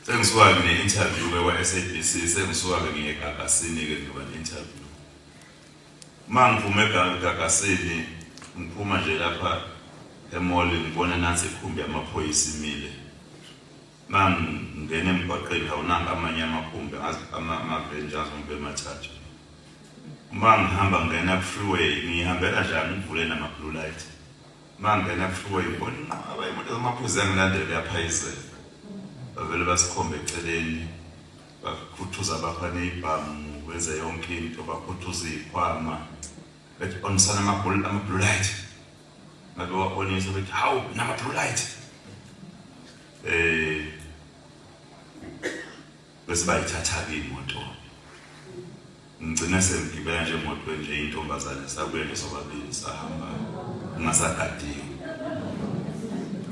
sengisuka-ke ne-interview-ke kwa-sabc sengisuka-ke ngiye egagasini-ke ngiba ne-interview uma ngiphume egagasini ngiphuma nje lapha emoli ngibona nathi ikhumbi yamaphoyisa imile Mangingena emgwaqeni awunanga amanye amakhumbi ngazi amaveni nje azombe emathathu. Uma ngihamba ngingena ku-freeway ngihambela njani ngivule nama-blue light. Uma ngingena ku-freeway ngibona inqaba imoto zamaphuzi yangilandela yaphayizela. Bavele basikhombe eceleni bakhuthuza bakha ney'bhamu benze yonke into bakhuthuza iy'khwama bethi onisana ama-blue light ngabe wabonisa ukuthi hawu nama blue light eh bese bayithatha ke imoto ngigcina sengigibela nje emoto nje intombazane sabuye nje sobabili sahamba ngingasagadiwe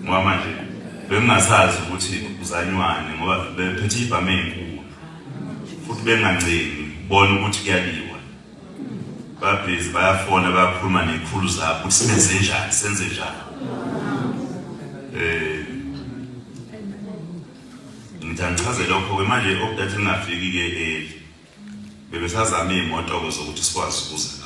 ngoba manje bengingasazi ukuthi uzanywani ngoba bephethe ibhame enkulu futhi bengancengi bona ukuthi kuyaliwa babhizi bayafona bayakhuluma ney'khulu zabo ukuthi simenze njani senze njani eh ngitangichaze lokho ke manje okudade ngingafiki ke eli bebesazama iy'moto ke zokuthi sikwazi ukuza